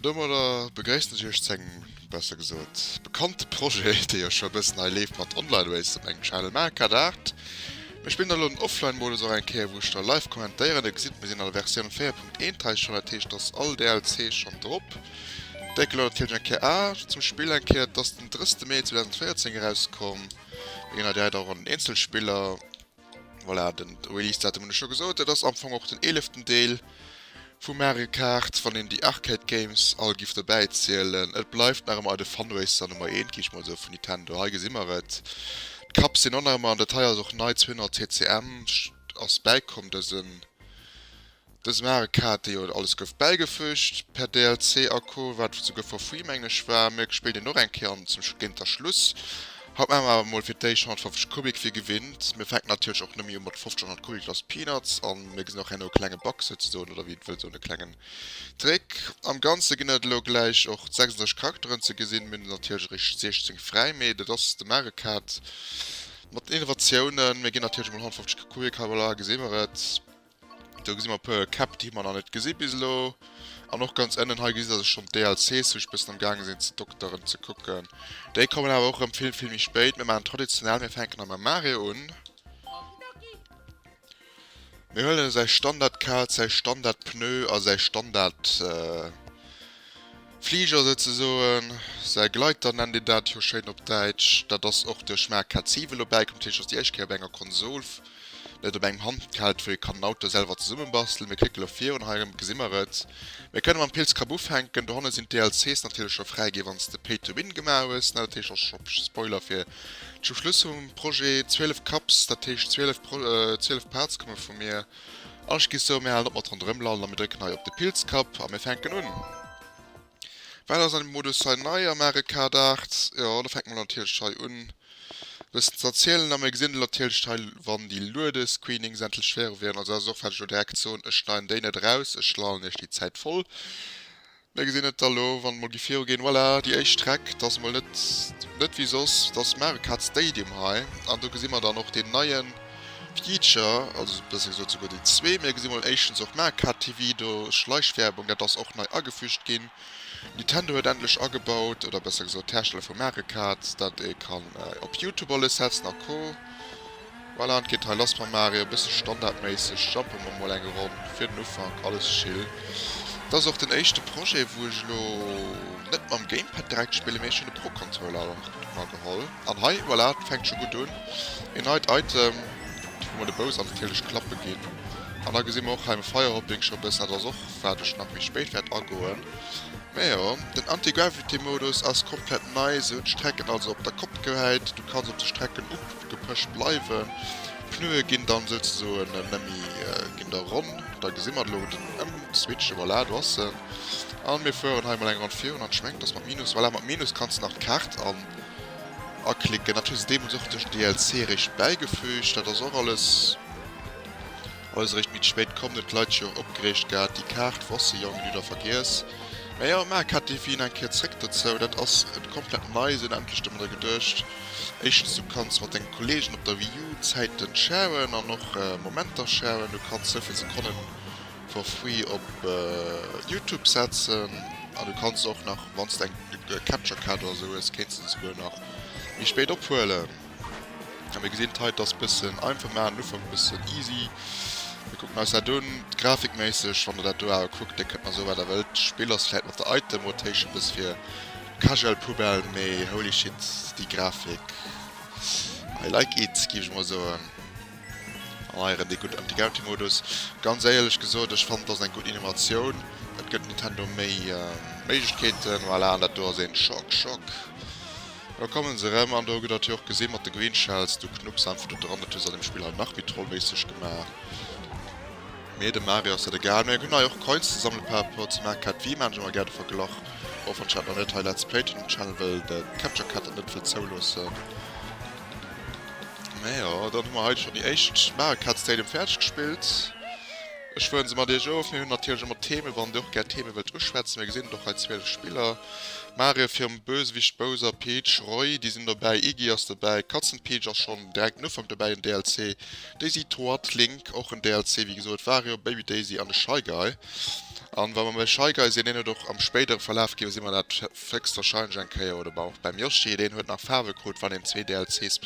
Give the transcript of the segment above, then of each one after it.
An domadder begréissen ech iech zu engem, besser gesot, bekannte Projet, dee jo scho e bëssen hei leeft mat Online Race op mengem Channel. Mä cat art, mir spillen da lo den Offline-Modus och eng Kéier, wou ech da live kommentéieren. Dir gesitt, mir sinn an der Versioun 4.13 schonn, dat heescht, et ass all DLC schonn drop. Déi gelount et firwech eng Kéier a zum Spill eng Kéier. Et ass den 3. Mee 2014 erauskomm. Mir ginn hei direkt och an den Eenzelspiller. Voilà, den Release-Datum hunn ech scho gesot. Dat ass am Fong och den eeleften Deel vu Mario Kart, wann een déi Arcade Games all giff dobäi zielen. Et bleift nach ëmmer de Funracer Nummer eent, gi ech mol sou, vun Nintendo. Hei gesi mer et. D'Cups sinn och nach ëmmer an. Dat hei ass och nei, 200 TCM ass bäikomm dësen. Dës Mare Kart, déi jo alles gouf bäigefüügt per DLC a co, wat souguer for free mengen ech war, mir gespillt een och eng Kéier an zum géinter Schluss. Haut maache mer awer mol fir d'éischt 150 Kubik wéi gewinnt. Mir fänken natierlech och nëmme jo mat 1500 Kubik Lost Peanuts an. Mir gesinn och herno e klenge Bug souzesoen, oder wéi et wëll soen e klengen Trick. Am Ganze ginn et elo gläich och 36 Charakteren ze gesinn, mir hunn natierlech eréischt 16 fräi, mee dat ass de Mare Kart mat den Innovatiounen. Mir ginn natierlech mol 150 Kubik, hei voilà gesi mer et. Do gesi mer e puer Käpp, déi mer nach net gesi bis elo. An och ganz ënnen hei gesi dass ech schonn d'DLCs, wou ech bëssen am gaange sinn ze dokteren, ze kucken. Déi kommen awer och erëm vill, vill méi spéit. Mir maachen traditionell, mir fänken a mam Mario un. Mir huelen säi Standard-Kaz, säi Standard-Pneu a säi Standard... Fliger souzesoen, säi Gleiter nennt een dat jo schéin op Däitsch. Dat ass och duerch Marc Cazive elo bäikomm, dat heescht ass déi éischt Kéier op enger Konsol, net op engem Handheld, wou ee kann en Auto selwer zesummebastelen. Mir klicke lo virun, hei erëm gesi mer et. Mir kënne mam Pilz Kapp ufänken. Dohanne sinn d'DLCs natierlech scho fräi ginn, wann s de Pay to Win gemaach hues. Dat heescht, ass scho Spoiler fir zum Schluss vum Projet. 12 Cups, dat heescht 12 Parts komme vu mir. Ech gi sou, mir halen op mat ronderëm lallen a mir drécken hei op de Pilzkapp a mir fänken un. Wat ass an dem Modus hei nei am Mario Kart 8? Jo, da fänke mer natierlech hei un e bëssen ze erzielen a mir gesinn elo natierlech hei, wann déi Luedescreenings endlech färe wieren. Also dat ass och wat ech elo direkt soen, ech schneiden déi net eraus, ech lallen iech déi Zäit voll. Mir gesinn et da lo, wann et mol gi viruginn, voilà, déi éischt Streck, et ass mol net, net wéi soss, et ass Marecard Stadium hei an do gesi mer dann och deen neie Feature, also besser gesot souguer déi zwee. Mir gesi mol éischtens och Marecard TV do, Schleichwerbung, dat ass och nei agefügt ginn. Nintendo huet endlech agebaut, oder besser gesot d'Hersteller vu Marecard, datt ee kann op YouTube alles setzen a co. Voilà, an et geet hei lass mam Mario, e bësse standardméisseg jumpe mer mol eng Ronn fir den Ufank, alles chill. Et ass och den éischte Projet, wou ech elo net mam Gamepad direkt spillen, mee ech hunn de Pro Controller mer geholl. An hei, voilà, et fänkt scho gutt un, een neit Item, wou mer de Bouss an natierlech klappe ginn. An da gesi mer och hei am Firehopping scho e bëssen, dat ass och wat ech nach méi spéit wäert agoen. Mä jo, den Anti-Gravity Modus ass komplett nei, se hunn d'Strecken also op der Kopp gehäit, du kanns op de Strecken. Gepëscht bleiwe. Pneue ginn dann souzesoen nëmmi ginn der ronn. Da gesi mer elo den Ëmswitch. Voilà, do ass en. A mir fueren hei emol eng Ronn virun an ech mengen dass mat Minus, voilà, mat Minus kanns de nach d'Kaart an aklicken. Dat hu se deemools och duerch den DLC eréischt bäigefügt. Dat ass och alles. Eis réischt Midd spéit komm net Leit scho opgereegt gehat déi Kaart wosse jo eng Lüder vergiess mä jo mä Kat déi wien eng Kéier zréck dozou dat ass et komplett nei sinn endlech domadder geduecht éischtens du kanns mat denge Kollegen op der Wii U Zäiten shauen an och Momenter shauen du kanns souvill Sekonnen for free op Youtube setzen an du kanns och nach wanns de eng Capture Kaart oder sou hues kéinste se souguer nach méi spéit ophuelen. Ja, mir gesinn d'Heit dass bëssen einfach man Ufang bëssen easy. Mir kucken eis dat un. Grafikméisseg wann der dat do awer kuckt, da kënnt mer esou wat der wëllt. D'Spill ass vläit mat der Item Rotation e bësse fir casual Poubelle, mee holy shit déi Grafik I like it géif ech mol soen. An heieren dee gudden Anti-Gravity Modus. Ganz éierlech gesot, ech fannen et ass eng gutt Innovatioun. Et gëtt Nintendo méi Méiglechkeeten, voilà, an dat do ass een Schock Schock. Lo kommen se erem an do ged dat jo och gesin mat de Green Shells, du Knups einfach do dran, dat hues an dem Spill hei nach méi trollméisseg gemaach. Mee dem Mario ass dat egal. Mee eng hun hei och Coins ze sammelen par rapport zum Arcade Wii maan ech emmer gär de Verglach, och wann ech dat nach net hei let's playt hun um Channel well de Capture Card dat net wëll zouloossen. Mee jo, dann hu mer hei schon déi éischt Mario Kart Stadium fäerdeg gespillt. Ech fueren se mat iech of. Mir hun natierlech emmer Theme, wann dir och gär Theme wëllt uschwätzen, mir gesin et och hei 12 Spiller. Mario virum Bösewicht Bowser, Peach, Roy, déi sinn dobäi, Iggy ass dobäi, Katzenpeach ass schonn direkt en Ufank dobäi, en DLC, Daisy, Toad, Link, och en DLC, wéi gesot, Wario, Baby Daisy an e Shy Guy. An wa mer bei Shy Guy sinn, deen huet och am spéidere Verlaf, géife si mer dat héchstwahrscheinlech eng Kéier, oder bei och beim Yoshi, deen huet nach Faarwe krut, wann een zwee DLCs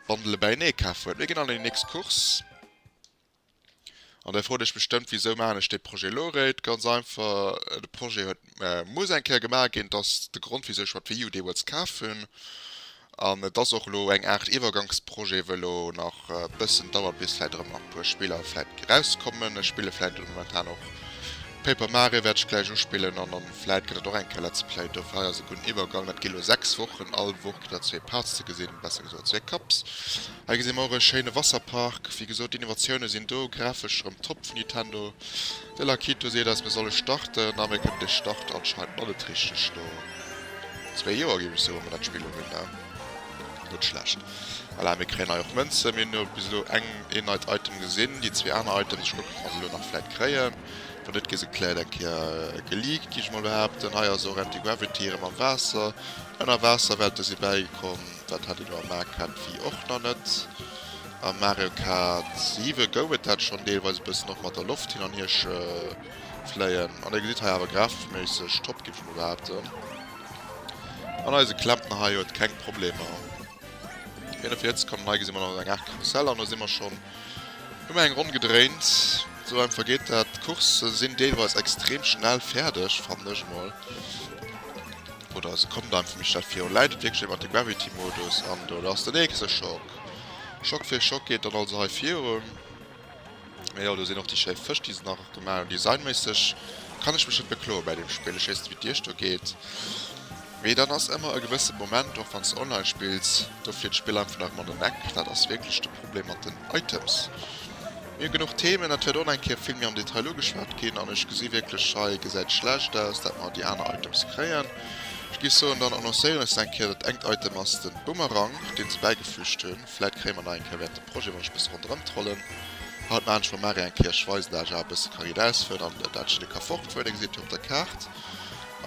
Bundele bäienee kaf huet. Mir ginn an déi nächst Course. An dir frot iech bestëmmt, Wisou maachen ech dee Projet elo eréischt? Ganz einfach, de Projet huet muss eng Kéier gemaach ginn. Et ass de Grond, wisou ech mer d'Wii U deemools kaf hunn. An et ass och elo eng Aart Iwwergangsprojet, wou elo nach e bëssen dauert, bis vläicht erëm nach e puer Spiller vläicht erauskommen. Ech spille vläicht elo momentan och Paper Mario, wäert ech gläich uspillen. An dann vläicht gëtt et och eng Kéier Let's Play. Dofir hei ass e gudden Iwwergang. Dat gi elo sechs Wochen, all Woch kritt der zwee Parts ze gesinn, besser gesot zwee Cups. Hei gesi mer och e schéine Wasserpark. Wéi gesot, d'Innovatioune sinn do, grafesch erëm top vun Nintendo. De Lakitu seet eis, mir solle starten, a mir kënnen de Start anscheinend nach net richteg. No zwee Joer, géif ech soen, wat dat Spill ugeet, ne? Net schlecht. Voilà, mir kréien hei och Mënzen. Mir hunn elo bis elo eng, een neit Item gesinn. Déi zwee aner Items, ech kucken, ob mer se elo nach vläit kréien. Wann net, gi se vläit eng Kéier geleakt, gi ech emol behaapten. Hei ass och Antigravity erëm am Waasser. Ënnerwaasserwelte si bäigekomm. Dat hat een lo am Mario Kart Wii och nach net. Am Mario Kart 7 gouf et dat schonn deelweis e bëssen, och mat der Loft hin an hier fléien. An e gesitt hei awer grafeschméisseg top, géif ech mol behaapten. An eise Klempner hei huet keng Problemer, hien huet fir hierzekommen. Hei gesi mer nach eng Aart Karussell an do si mer schonn ëmmer eng Ronn gedréint. Esou einfach geet dat. D'Coursë sinn deelweis extrem schnell fäerdeg, fannen ech emol. Oder se kommt einfach méi schnell virun. Läit et wierklech mat de Gravity Modus an do lass den nächste Schock. Schock fir Schock geet dann also hei virun. Mee jo do sinn och déi schéi Fësch déi se nach gemaach hunn. Designméisseg kann ech mech net bekloe bei deem Spill. Ech weess net wéi et iech do geet. Mee dann ass ëmmer e gewësse Moment, och wann s de online spills, do flitt d'Spill einfach nach ëmmer an den Eck. Dat ass wierklech de Problem mat den Items. Mir hunn genuch Themen, et wäert och nach eng Kéier vill méi am Detail ugeschwat ginn. An ech gesi wierklech, hei gesäit et schlecht aus, dat mer déi aner Items kréien. Ech gi soen, dann annoncéieren ech se eng Kéier. Dat engt Item ass de Bumerang, dee se bäigefüügt hunn. Vläit kréie mer nach eng Kéier während dem Projet, wann ech e bësse ronderëm trollen, haut maachen ech mam Mario eng Kéier, ech weisen dat Ae e bësse karideis fir, an dat jiddere ka fortfueren, Dir gesitt jo op der Kaart.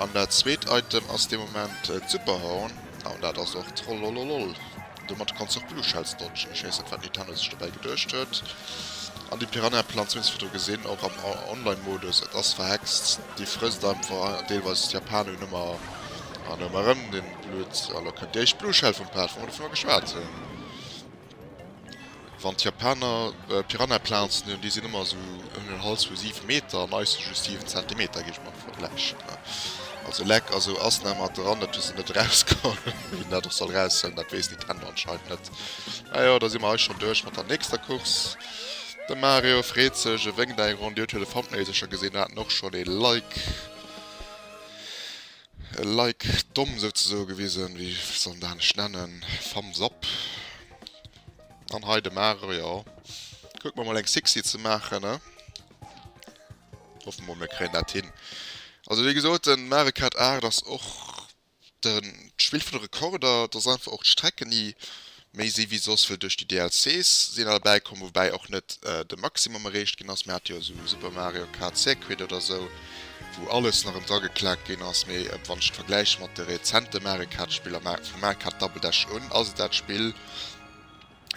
An dat zweet Item ass dee Moment d'Superhorn, an dat ass och trollololol. Domat kanns du och Blue Shells dodgen. Ech weess net wat Nintendo sech dobäi geduecht huet. An déi Piranha Plants hunn ech zwar do gesinn, och am Online Modus. Et ass verhext, déi frësst einfach deelweis d'Japaner hunn ëmmer an ëmmer erëm dee Blutt. A lo kënnt déi éischt Blue Shell vum Pad, wou mer dovunner geschwat hunn. Wann d'Japaner Piranhaplazen hunn, déi sinn ëmmer esou ëm den Hals vu 7 Meter an eis si just 7 Zentimeter, géif ech mol vergläichen. Also leck a sou ass nat mat der Randert hu se net erausgeholl. Wien dat och soll eraushuelen, dat weess Nintendo anscheinend net. Majo, da si mer hei schonn duerch mat der nächster Course. De Mario freet sech, e wénkt eng Ronn, Dir hutt jo de Thumbnail sécher gesinn, haten och schonn e Like, e Like domm souzesoe gewisen, wéi soll en dat anescht nennen, Thumbs up. An hei de Mare, jo. Kuck mer mol eng Sixi ze maachen, ne? Hoffe mol mir kréien dat hin. Also wéi gesot, de Mare Kart 8 ass och den, d'Spill vun de Rekorder. Et ass einfach och d'Strecken déi méi si wéi soss, well duerch déi DLCs sinn erbäi komm. Woubäi och net de Maximum erreecht ginn ass. Mir hate jo esou Super Mario Kart Circuit oder esou, wou alles nach em dra geklaakt ginn ass. Mee wann ech et vergläiche mat de rezente Mare Kart Spiller, Mare Kart Double Dash un, ass et dat Spill,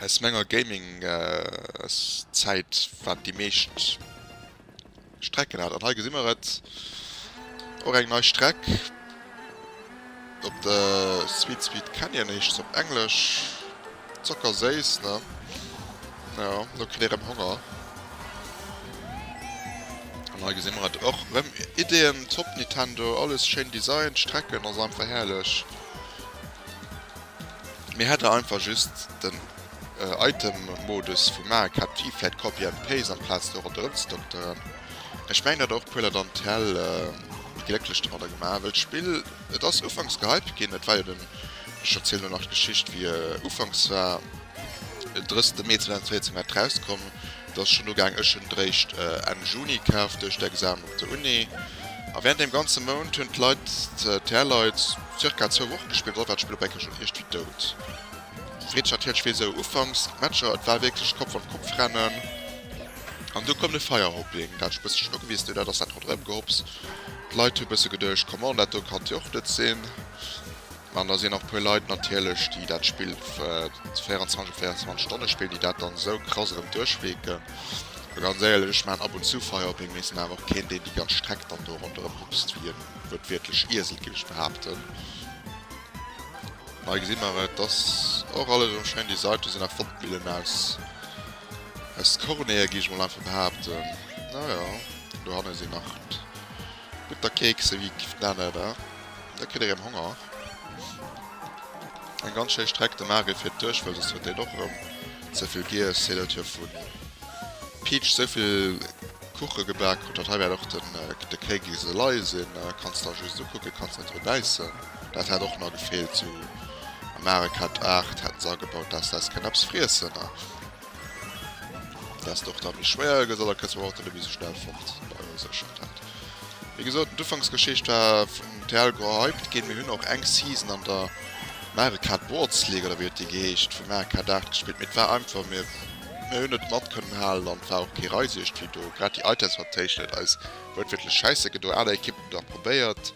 Aus menger Gaming-Zäit waren déi meescht Strecken dat. An hei gesi mer et, och eng nei Streck op de Sweet Sweet Canyon heescht se op Englesch. Zockerséiss, ne? Jo, elo kritt ee rëm Honger. An hei gesi mer et och rëm, Iddien top Nintendo, alles schéin designt, d'Strecken ass einfach herrlech. Mir hätte einfach just den Item Modus vum Mac hat Pi vläit Copy and Paste amplaz do rondë rëm ze dokteren. Ech mengen dat och puer Leit an Tell méi glécklech domadder gemaach wëll d'Spill et ass ufanks gehypt ginn et war jo den ech erzielen elo nach d'Geschicht wéi ufanks war 30 Mee 2014 war et rauskomm. Et ass schon ugaang, ech hunn d'réischt Enn Juni kaf duerch d'Examen op der Uni a während deem ganze Mount hunn d'Leit, d'Tr Leit, zirka zwou Wochen gespillt, dann war d'Spill op eng Kéier schon iergtwéi dout. Freet ech natierlech wéi sou ufanks d'Matcher, et war wierklech Kopf an Kopf rennen an du koum de Feierhopping, dat ech e bësse schon ugewiesst hunn, dat ass dat ronderëm Gehops, d'Leit hu bësse geduecht, Coman, dat do kann d'Joch net sinn. An da sinn och puer Leit natierlech, déi dat Spill 24 op 24 Stonne spillen, déi dat dann esou krass erëm duerchweeken. A ganz éierlech, ech maachen ab und zu Feier op eengem, mee et sinn awer och keen, deen déi ganz Streck dann do ronderëm hupst wéi e wuertwiertlech Iesel, géif ech behaapten. Ma hei gesi mer et, ass och alles erëm schéin designt. Do sinn nach Wandmillen aus Kornee, géif ech mol einfach behaapten. Naja, do hanne sinn nach. Gutt da Keeks sou wéi d'Nana da, da kritt erém Honger. Eng ganz schéi Streck de Maargel fir d'Duerchfall, soss huet dén och erém ze vill giess. Hé dat hir vun Peach sou vill Kuche gebak krut hat. Hei wärt och den de Kéigiss elei sin, kanns da just ukucken, kanns net dru bäissen. Dat hätt och na gefeelt. Zu Amerika d'Aart hätten se agebaut, dass dass kén eppes friessen. Dass et och da méi schwéier gëtt, oder kënnst du mer och de Lumi sou schnell fort? Bei eis ass schonn dat. Wéi gesot, d'Ufanksgeschicht war vum TL gehypt ginn. Mir hunn och eng Season an der Mario Kart Boards League, oder wéi huet déi geheescht, vu Mario Kart 8 gespillt, mee et war einfach, mir hunn net mat kënnen halen an et war och kee Reiswiescht vill do. Grad déi Items mat Téischen huet eis wuertwiertlech schäisse gedoen. Aner Ekippen hunn et och probéiert,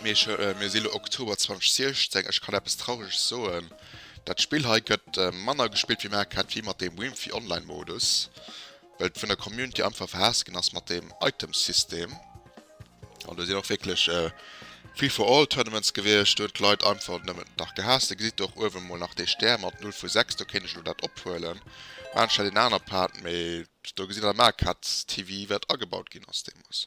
mee ech, mir si lo Oktober 2016, ech kann eppes Traureges soen, Dat Spill hei gëtt manner gespillt wéi maer kennt, wéi mat deem Wimphy Online Modus, well et vun der Community einfach verhaasst ginn ass mat deem Items System. An do sinn och wierklech Free for All Tournaments gewiescht, do hunn d'Leit einfach nëmmen dach gehaasst. Dir gesitt och uewen mol nach dee Stär mat 0 vu 6, do kéint ech elo dat ophuelen, mä anscheinend een aner Part, mä do gesitt der maer Katz TV wat agebaut ginn ass deemools.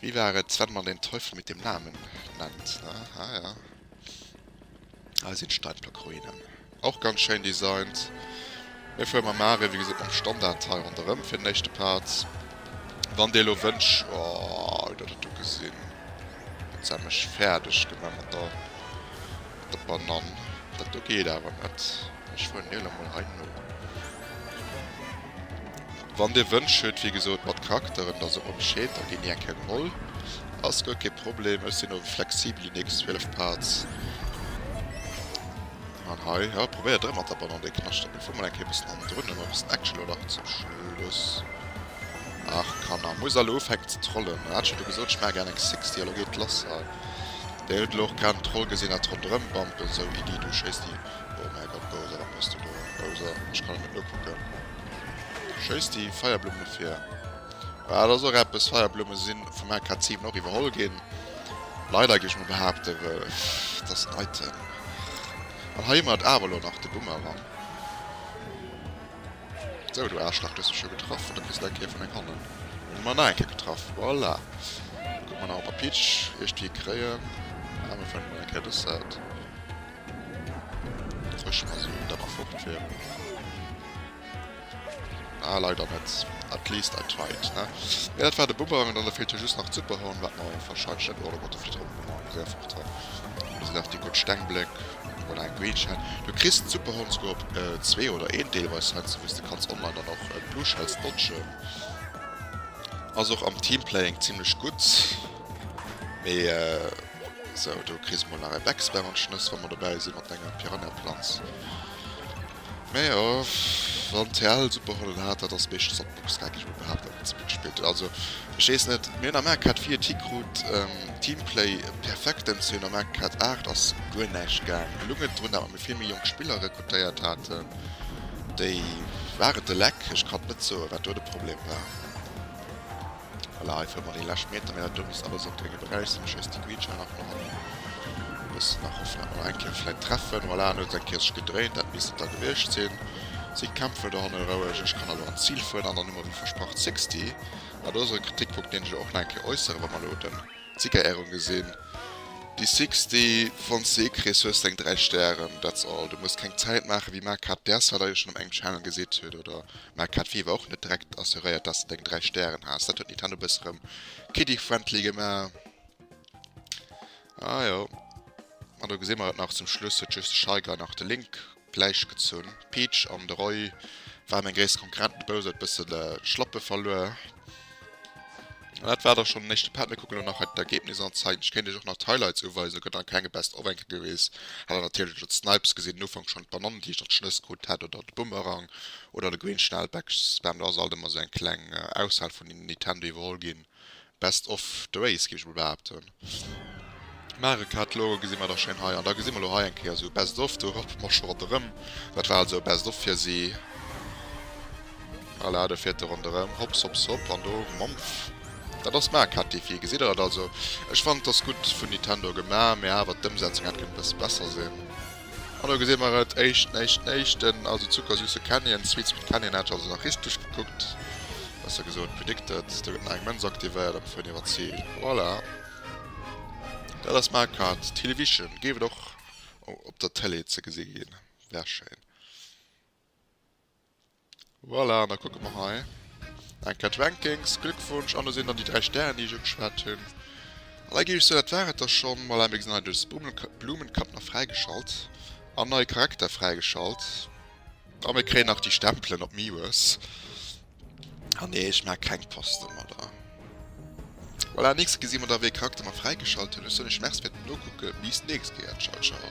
Wie war et wenn man den Teufel mit dem Namen nennt? Ah ja, hei sinn d'Steinblockruinen och ganz schéin designt. Mir fuere mam Mare wéi gesot mam Standard hei ronderëm fir den éischte Part. Wann Dir elo wënscht, oh hutt Der dat do gesinn? Huet se mech fäerdeg gemaach mat der mat der Banann. Dat do geet awer net. Ech fueren elo mol hei no. Wann dir Wënsch huet, wéi gesot mat Charakteren, da sot mer Bescheed, da ginn déi eng Kéier geholl. Ass guer kee Problem, ech sinn ower flexibel Unix 12 Parts. An hei, jo probéiert erëm mat der Bannonn dee Knaschtert, mee fuer mol eng Kéier e bëssen hannendrun, hu mer e bëssen Action elo nach zum Schluss. Ach Kanner, muss elo ufänken ze trollen, hat ech jo do gesot, ech maache gären eng Sixty, elo geet et lass hei. Dir hutt elo och grad en Troll gesinn, hat ronderëm bampelt, sou Iddie, du schéisst déi, oh mäi Gott Bowser, wat bass du do, Bowser, ech kann et net nokucken. Schéiss déi Feierblumm no vir. Bah, dat ass och eppes, Feierblumme si vum AK 7 och iwwerholl ginn. Leider, géif ech mol behaapten, well et ass en Item. An hei hu mer et awer elo nach, de Boomerang. Sou, du Aarschlach, du hues mech jo getraff, oder kriss nach eng Kéier vun meng Hannen. Hunn mer nach eng Kéier getraff. Voilà. Kucke mer nach, ob mer Peach iergtwéi kréien. Ah, mir fannen emol eng Kéier dës Säit. Ech muss elo da nach fort féieren. Ah leider net. At least I tried ne. Mee dat war de Bumerang an dann feelt jo just nach d'Superhorn wat mer wahrscheinlech net. Oh da gott de flitt erëm ronn eng Réier fort hei. Do sinn nach déi gutt Stengbléck oder eng Greenshell. Du kriss d'Superhorn souguer op zwee oder een deelweis hei sou wéi s de kanns online dann och d'Blueshells dodgen. Ass och am Teamplay-ing zimlech gutt mee Sou, do kriss mol nach e Becksbär an d'Schnëss, wa mer dobäi si mat enger Piranhaplanz. Mä jo, wann TL Superhollen hat, dat ass meeschtens op Box, geif ech mol behaapten, wat se mat gespillt huet. Also, ech weess net, mir hunn am MK vier T-Krut Teamplay Perfektem, si hunn am MK aacht ass guer näischt gaang. Et luget drun, datt mir vill méi jonk Spiller rekrutéiert haten, déi waren de Leck. Ech kann net soen, wat do de Problem war. Voilà, hei fëllen mer déi lescht Meter, mee dat do misst alles op de Gebrauch sinn. Ech weess, de Greenschnell ass nach am bëssen nach hoffen, dat mer nach eng Kéier vläit treffen. Voilà, en huet seng Kierch gedréint, dat misst et da gewiescht sinn. Sidd d'Kämpfer do hanne roueg, ech kann elo an d'Zil fueren an dann hu mer wéi versprach d'Sixty. Mä do ass elo e Kritikpunkt, deen ech elo och nach eng Kéier äusseren, wa mer elo den Siegerehrung gesinn, déi Sixty, wann s de ee kriss, hues de eng dräi Stären, that's all. Du muss keng Zäit maachen, wéi Marc Haerdt d'RSA da jo schonn op engem Channel gesitt huet, oder Mä et hat wéi ewwer och net direkt assuréiert, dass de deng 3 Stären has. Dat huet Nintendo e bësse rëm kiddie-friendly gemaach. Ah jo. Ma do gesi mer et nach, zum Schluss huet just de Shyguy nach de Link gläich gezunn. D'Peach an de Roy waren meng gréisst Konkurrenten, de Bowser huet e bësse de Schlappe verluer. An dat war da schonn den éischte Part. Mir kucken elo nach hei d'Ergebnis an. Zeien, ech kéint iech och nach d'Highlights uweisen, gëtt dann kenge Best of enke geweest. Hat der natierlech elo d'Snipes gesinn, den Ufank schonn, d'Banannen, déi ech dann d'Schnëss krut hat, oder de Boomerang oder de Green Schnellback. Spam, do ass alt ëmmer esou eng kleng Aushal vun den Nintendo iwwerholl ginn. Best of the race, géif ech emol behaapten. Mare cut, lo gesi mer dach schéin hei, an da gesi mer lo hei eng Kéier esou e best of, do rappe mer scho ronderëm, dat war also e best of fir si, voilà, do fiert e ronderëm, hopps hopps hopp, an do mampf, dat ass d'Mare cut Defi, gesitt der dat, also ech fannen et ass gutt vun Nintendo gemaach, mä awer d'Ëmsetzung hätt kënnen e bësse besser sinn. An do gesi mer et, éischten, éischten, éischten, also zuckersüsse Canyon, Sweet Sweet Canyon, hat ech also nach richteg gekuckt, besser gesot predicted, do gëtt nach eng Mënz aktivéiert an d'Fënn iwwer d'Zil, voilà. Dat ass Mario Kart Television, géif et och op der Tëlee ze gesi ginn, wär schéin. Voilà, an da kucke mer hei eng Kéier d'Rankings. Glückwunsch! An do sinn dann déi 3 Stären, déi ech ugeschwat hunn. An da géif ech soen, dat war et da schonn. Voilà, mir gesinn hei de Blumenkapp nach fräigeschalt an neie Charakter fräigeschalt. A mir kréien nach déi Stempelen op Miwes. Ah nee, ech maa keng Poste mer dra. Voilà, nächst gesi mer da wéi ee Charakter mer fräigeschalt hunn. Ech soen iech Merci fir den Nokucke, bis d'nächst Kéier, ciao ciao.